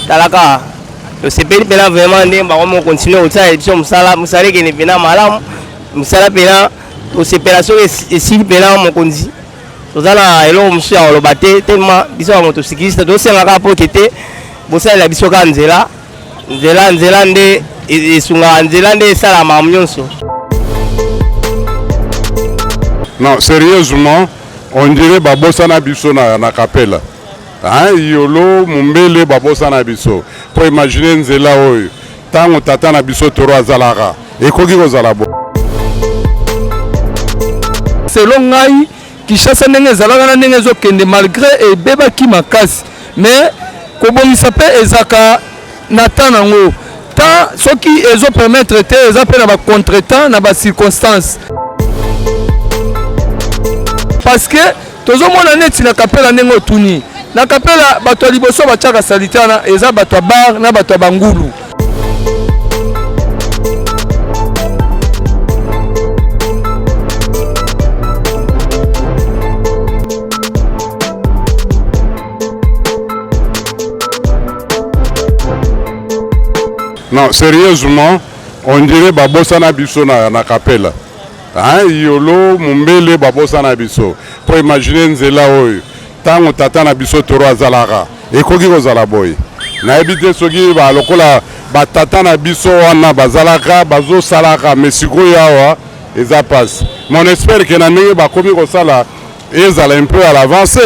talaka tosepeli mpena vraiment nde bango mo continue kosalela biso mosala mosala ekende mpena malamu mosala mpena tosepela soki esili mpena mokonzi toza na eloko mosusu ya koloba te telema biso bango tosikiliste tosenga kaka pote te bosalela biso kaka nzela nzela nzela nde e-, esungaka nzela nde esala mamu nyonso non sérieusement on dirait babosana biso na, na kapela Hein, yolo mumbele babosana biso po imagine nzela oyo tango tata na biso toro azalaka ekoki kozala bo selon ngai Kinshasa ndenge ezalaka na ndenge ezokende malgré ebebaki makasi mais kobongisa mpe ezaka na temps nango temps soki ezo permettre te eza mpe na ba contretemps na ba circonstances parce que Tozomona neti na kapela ndenge otuni na kapela bato ya liboso batiaka salite wana eza bato ya bar na bato ya bangulu Non, sérieusement, on dirait babosana biso na, na kapela. Hein, yolo mumbele babosana biso po imagine nzela oyo tango tata na biso toro azalaka ekoki kozala boye nayebi te soki ba lokola batata na biso wana bazalaka bazosalaka me sikoyo awa eza pasi mon espere ke na ndenge bakomi kosala ezala un peu à l'avance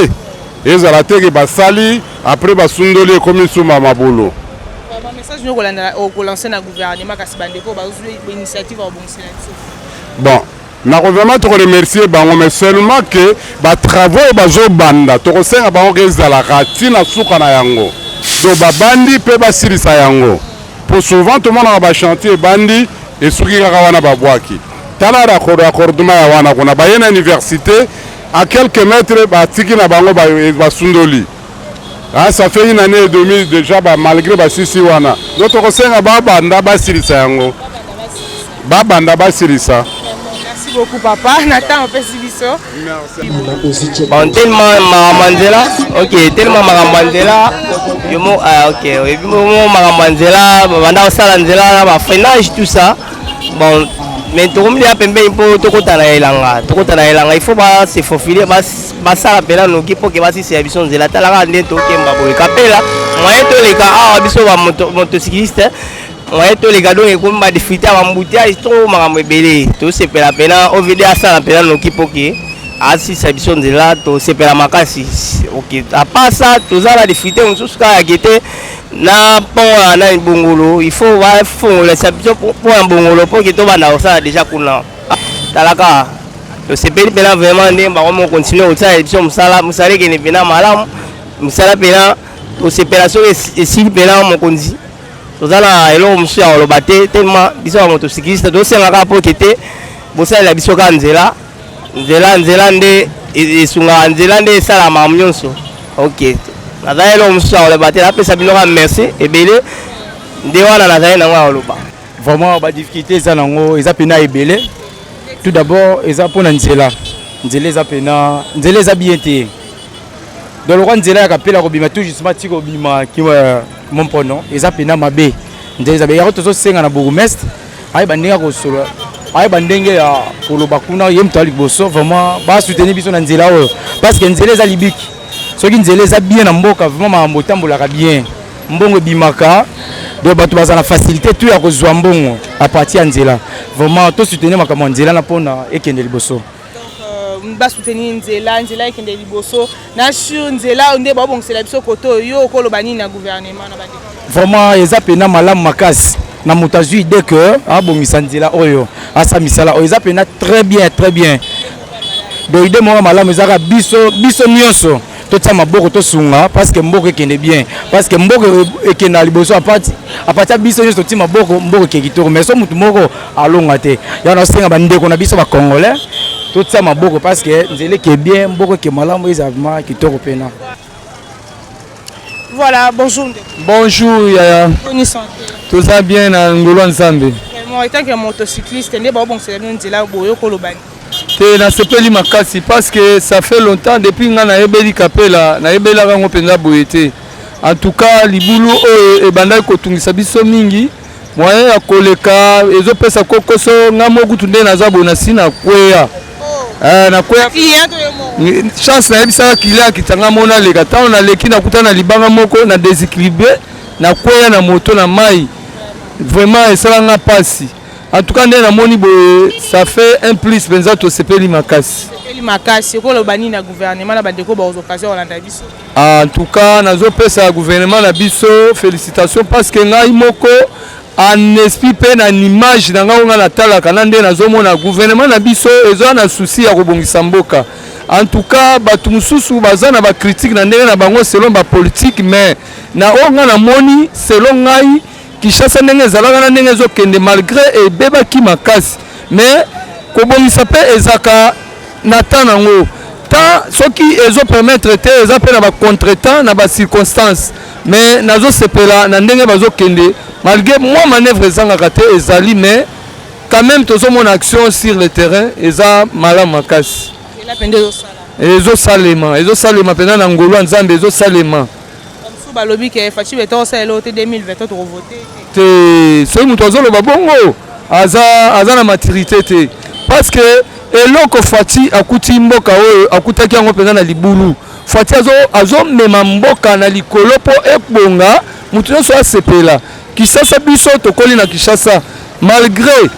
ezala te ke basali après basundoli ekomi sumba mabulu message nyo kolandela okolanse na gouvernement kasi bandeko bazwi initiative bon nako vraiment toko remercier bango mais seulement que ba travaux oyo bazobanda tokosenga bango ke ezalaka ti na suka na yango donc babandi mpe basilisa yango mpo souvent tomonaka bachantier ebandi esuki kaka wana babwaki tala raccordement ya wana kuna baye na université a quelques mètres batiki na bango basundoli Ah, ça fait une année et demie déjà ba malgré ba sisi wana. Donc tokosenga ba banda basilisa yango. Ba banda basilisa. Merci beaucoup papa. Nathan opesi biso. Merci. Bon tellement makambo nzela. OK, tellement makambo nzela. Yo mo ah OK, et puis mo makambo nzela, banda osala nzela na ba freinage tout ça. Bon mais tokomi ya pembeni mpo tokota na elanga tokota na elanga il faut ba se faufiler ba basala mpela noki mpo ke basisi ya biso nzela talaka nde tokemba boye kapela moyen toleka awa biso bamotosikiliste moyen toleka donc ekomi badifrite ya bambuteyage to makambo ebele tosepela mpena ovd asala mpena noki mpo ke asisa biso nzela tosepela makasi ok apasa toza na difrite mosusu kaka yake te na pont ya nani bongolo il faut bafongola biso pont ya bongolo mpo ke tobanda kosala deja kuna talaka tosepeli mpena vraiment nde bango moko continue kosalela biso mosala mosala ekende mpena malamu mosala mpena tosepela soki esili mpena mokonzi toza na eloko mosusu ya koloba te telema biso bango tosikilista tosenga kaka mpo tete bosalela biso kaka nzela nzela nzela nde e-, esungaka nzela nde esalaka makambo nyonso ok nazali eloko mosusu ya koloba te napesa bino kaka merci ebele nde wana nazali nango ya koloba Vraiment ba difficulté eza nango eza pena ebele. Tout d'abord eza pona nzela. Nzela eza pena nzela eza bien te. Donc lokwa nzela ya kapela kobima tout justement ti kobima ki euh, mon pono eza pena mabe. Nzela eza bien. Yako tozo senga na bourgmestre ayi bandinga kosolo ayeba ndenge ya koloba kuna ye moto ya liboso vraiment basoutenir biso na nzela oyo parce que nzela eza libiki soki nzela eza bien na mboka vraiment makambo otambolaka bien mbongo ebimaka donc bato baza na facilité tu ya kozwa mbongo à partir ya nzela vraiment to soutenir makambo ya nzela na mpona ekende liboso euh, basoutenir nzela nzela ekende liboso na sur nzela nde babongisela biso kote oyo yo okoloba nini na gouvernement na bande vraiment eza mpena malamu makasi na moto azwi idée que abongisa nzela oyo asa misala oyo eza mpena très bien très bien donc idée moko malamu ezalaka biso biso nyonso totia maboko tosunga parceke mboka ekende bien parceke mboka e-, ekenda liboso apati apati ya biso nyonso totii maboko mboka eke kitoko mais so motu moko alonga te yango nasenga bandeko na biso bacongolais totia maboko parceke nzela eke bien mboka eke malamu eza vraimen kitoko mpena voilà bonjour bonjour yaya toza bien na ngolo ya nzambe etanke motocycliste nde baobongisela bino nzela boye okolobani te nasepeli makasi parce que ça fait longtemps depuis nga nayebeli kapela nayebelaka yango mpenza boye te en tout cas libulu oyo ebandaki kotungisa biso mingi moyen ya koleka ezopesa kokoso nga moko kutu nde naza boye nasi na kweya eh, na kweya chance nayebisaka kile akita nga mona leka ntango naleki nakuta na libanga moko na desequilibre na kweya na moto na mai vraiment esala nga mpasi En tout cas nde namoni boye ça fait un plus mpenza tosepeli makasi makasi okoloba nini na gouvernement na bandeko baozokazi kolanda biso en tout cas nazopesa gouvernement na biso félicitation parce que ngai moko en esprit mpe na image na ngai ngai natalaka na nde nazomona gouvernement na biso eza na souci ya kobongisa mboka en tout cas bato mosusu baza na bacritique na ndenge na bango selon bapolitique mais na oyo ngai namoni selon ngai Kinshasa ndenge ezalaka na ndenge ezokende malgre ebebaki makasi mais kobongisa mpe ezaka na temps nango temps soki ezo permettre te eza mpe na ba contretemps na ba circonstances mais nazosepela na ndenge bazokende malgre mwa manœuvre ezangaka te ezali mais quand même tozomona action sur le terrain eza malamu makasi ezosalema ezosalema mpenza na ngolu ya nzambe ezosalema Bamosusu balobi ke Fatshi Beton osala eloko te 2020 to toko vote te. Soki moto azoloba bongo aza aza na maturité te parce que eloko Fatshi akuti mboka oyo akutaki yango mpenza na libulu. Fatshi azo azomema mboka na likolo mpo ebonga moto nyonso asepela. Kishasa biso tokoli na Kishasa malgre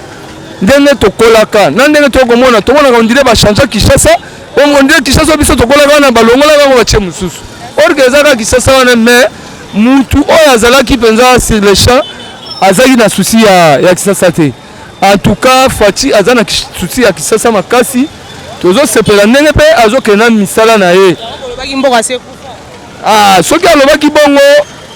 ndenge tokolaka na ndenge tokomona tomonaka ondire bachangea Kishasa Bongo nde Kinshasa biso tokolaka wana balongolaka yango batie mosusu. Or que eza kaka Kinshasa wana mais mutu oyo azalaki mpenza sur le champ azalaki na souci ya, ya Kinshasa te. En tout cas Fatshi aza na souci ya Kinshasa makasi. Tozosepela ndenge mpe azokenda misala na ye. Olobaki mboka se Ah, soki alobaki bongo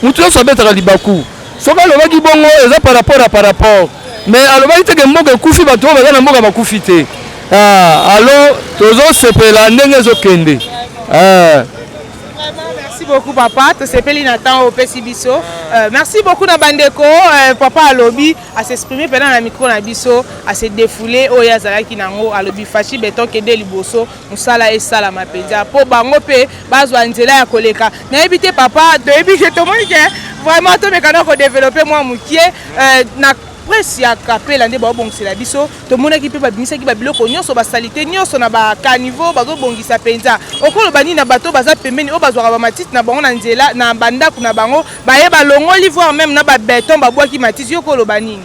mutu nyonso abetaka libaku. Soki alobaki bongo eza par rapport à par rapport. Mais alobaki te que mboka ekufi bato oyo baza na mboka bakufi te. Ah, alors tozosepela ndenge ezokende. Ah. merci beaucoup papa tosepeli na temps opesi biso euh, merci beaucoup na bandeko euh, papa alobi asexprime mpena na micro na biso ase defoule oyo azalaki nango alobi fashi beton kende liboso mosala esalama mpenza mpo bango mpe bazwa nzela ya koleka nayebi te papa toyebi ke tomoni ke vraiment tomeka na kodevelope mwa mokie euh, na presse ya kapela nde baobongisela biso tomonaki mpe babimisaki babiloko nyonso basalite nyonso na bacaniveau bazobongisa mpenza okoloba nini na bato baza pembeni oyo bazwaka bamatiti na bango na nzela na bandako na bango baye balongoli voir meme na babeton babwaki matiti yo okoloba nini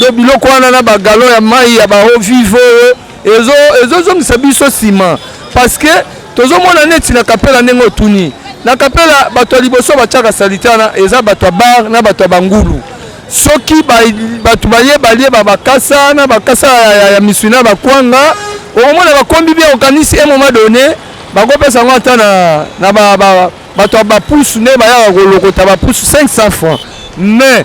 do biloko wana na bagalon ya mai ya baeau vive oyo ezozongisa ezo biso nsima parce que tozomona neti na kapela ndenge otuni na kapela bato ya liboso batyaka salite wana eza bato ya bar na bato ya bangulu soki bato baye balie babakasa na bakasa ya, ya, ya misuni ya bakwanga okomona bakombi bia okanisi e moment donné bakopesa yango ata na, na ba, ba, bato ya bapusu nde bayaka kolokota bapusu 500 francs mais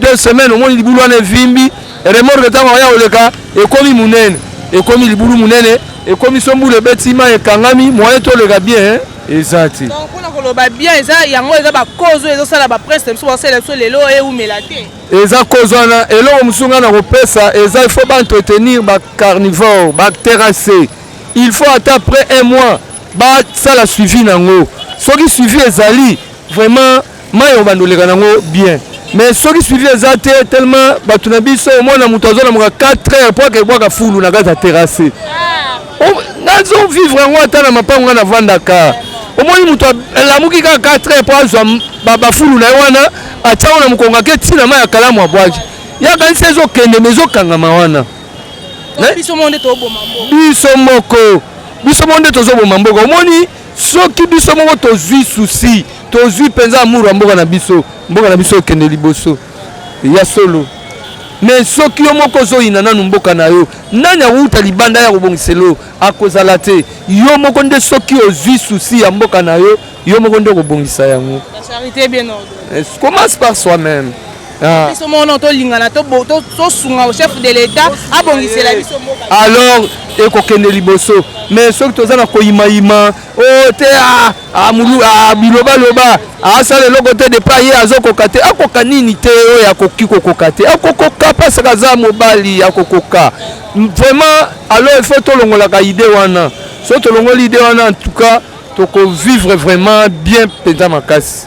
deux semaines omoni libulu wana evimbi remorque ntango aya koleka ekomi monene ekomi libulu monene ekomi so mbula ebeti mai ekangami moyen toleka bien hein? eza te mpona koloba bien eza yango eza bakozo ezosala bapresse na biso basalela biso lelo eumela te eza kozo wana eloko mosusu ngai nakopesa eza il faut baentretenir bacarnivore baterrasse il faut ata après un mois basala suivi na yango soki suivi ezali vraiment Mayi obanda oleka nango bien mais soki suivi eza te tellement bato na biso omona moto azolamuka 4 heures po akebwaka fulu na kati ya terrasse nazo vivre yango ata na mapango ngai navandaka omoni moto alamuki kaka 4 heures po azwa bafulu na ye wana atiango na mokongo ake ntina mai ya kalamu abwaki yakanisi ezokende ma ezokangama wana biso moko biso moko nde tozoboma mboka omoni soki biso moko tozwi susi tozwi mpenza amour ya mboka na biso mboka na biso ekende liboso ya solo me soki yo moko ozoyina nanu mboka na yo nani akouta libanda ya kobongiselo akozala te yo moko nde soki ozwi susi ya mboka na yo yo moko nde okobongisa yango eh, commence par soi-même Ah. biso moko no tolingana tosunga au chef de l'état abongisela biso mboka alors ekokende liboso mais soki toza na koyimayima o oh, te ah, ah, bilobaloba asala eloko te depa ye azokoka te akoka nini te oyo akoki kokoka te akokoka pasaka aza mobali akokoka vraiment alors il faut tolongolaka idée wana soki tolongoli idée wana en tout cas tokovivre vraiment bien mpenza makasi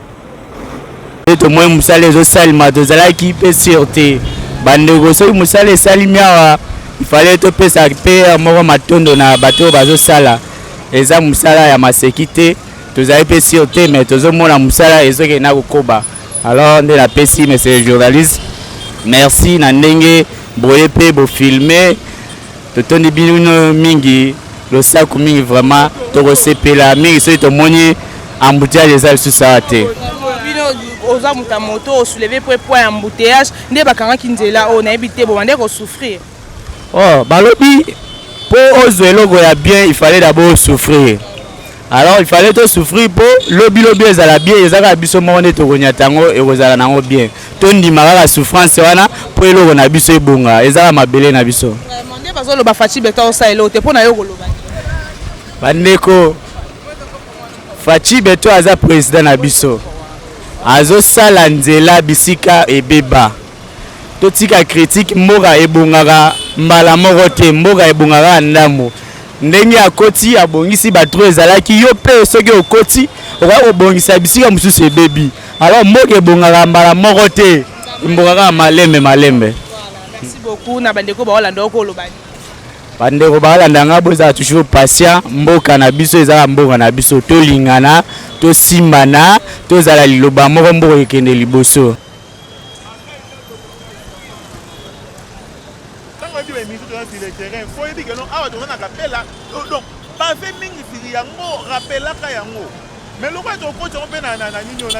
nde tomoni mosala ezosalema tozalaki mpe sur te bandeko soki mosala esalimi awa ifale topesa mpe moko matondo na bato oyo bazosala eza mosala ya maseki te tozali mpe sur te mais tozomona mosala ezokende na kokoba alors nde napesi monsieur le journaliste merci na ndenge boye mpe bofilme Totondi bino mingi losako mingi vraiment tokosepela mingi soki tomoni embouteillage eza lisusu awa te oza moto ya moto osouleve po poids ya embouteillage nde bakangaki nzela oyo nayebi te boma nde kosouffrir oh balobi mpo ozwa eloko ya bien il fallait d'abord souffrir Alors il fallait to souffrir po lobi lobi ezala bien eza kaka biso moko nde tokonyata yango ekozala nango bien tondima kaka souffrance wana po eloko na biso ebonga eza kaka mabele na biso nde bazoloba faci beta osala eloko te mpo na yo koloba bandeko faci beto aza president na biso azosala nzela bisika ebeba totika kritike mboka ebongaka mbala moko te mboka ebongaka ndambo ndenge akoti abongisi batro ezalaki yo mpe soki okoti okoki kobongisa bisika mosusu ebebi alors mboka ebongaka mbala moko te mboka kaka malembe malembe bandeko balanda ngai bozala toujours patient mboka na biso ezala mboka na biso tolingana tosimbana tozala liloba moko mboka ekende liboso Tango oyebi ba emission toza sur le terrain, fo oyebi que non awa toza na kapela donc bave mingi siri yango rappelaka yango mais lokola tokoti yango mpe na nini ona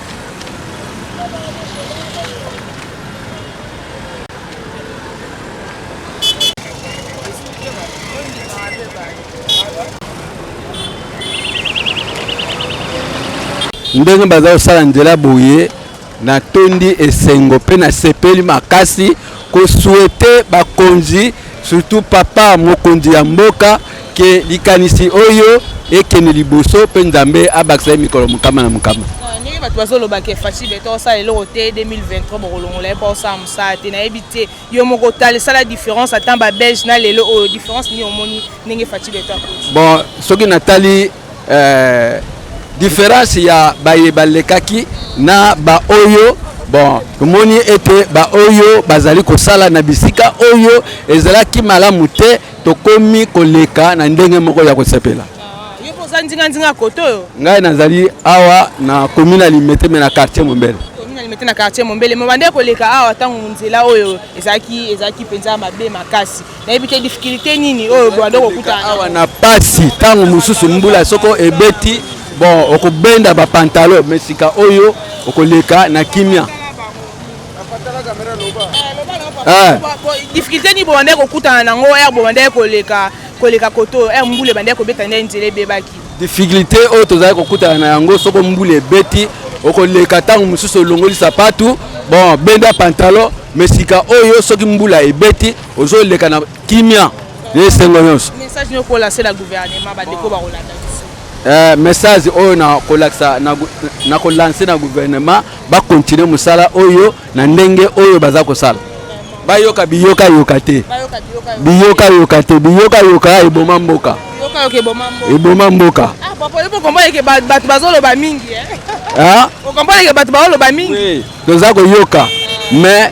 ndenge baza kosala nzela boye natondi esengo mpe nasepeli makasi kosuete bakonzi surtout papa mokonzi ya mboka Ke likanisi oyo ekende liboso mpe Nzambe abakisa ye mikolo mokama na mokama. ndenge bato bazoloba ke faci beton osala eloko te 2023 bokolongola ye mpo osala mosala te nayebi te yo moko otala esala différence ata babelge na lelo oyo différence nini omoni ndenge faci beton akoti bon soki natali euh, différence ya baye balekaki na baoyo bon tomoni ete baoyo bazali kosala na bisika oyo ezalaki malamu te tokomi koleka na ndenge moko ya kosepela oza nzinganzinga kote oyo ngai nazali awa na komi na limete me na quartier mombele limete na quartier mombele me bande koleka awa ntango nzela oyo ezalaki ezalaki mpenza mabe makasi nayebi te difficulté nini oyo bande kokutana awa na pasi ntango mosusu mbula soko ebeti bon okobenda bapantalo me sika oyo okoleka na kimia Eh. difficulté nini bobandaki kokutana nango ere bobandaki koleka koleka kote oyo ere mbula ebandaki kobeta nde nzela ebebaki difficulté oyo tozali kokutana na yango soko mbula ebeti okoleka ntango mosusu olongoli sapatu bon benda pantalo me sika oyo soki mbula ebeti ozoleka na kimia na esengo nyonso message niokolasela gouvernement bandeko bakolanda Eh, message oyo nakolakisa nakolanse na gouvernement bakontinue mosala oyo na ndenge oyo baza kosala bayoka biyoka yoka te biyoka yoka te biyoka yoka eboma mboka eboma mboka bato bazoloba mingi eh? ah? okomponeke bato bazoloba mingi toza koyoka mais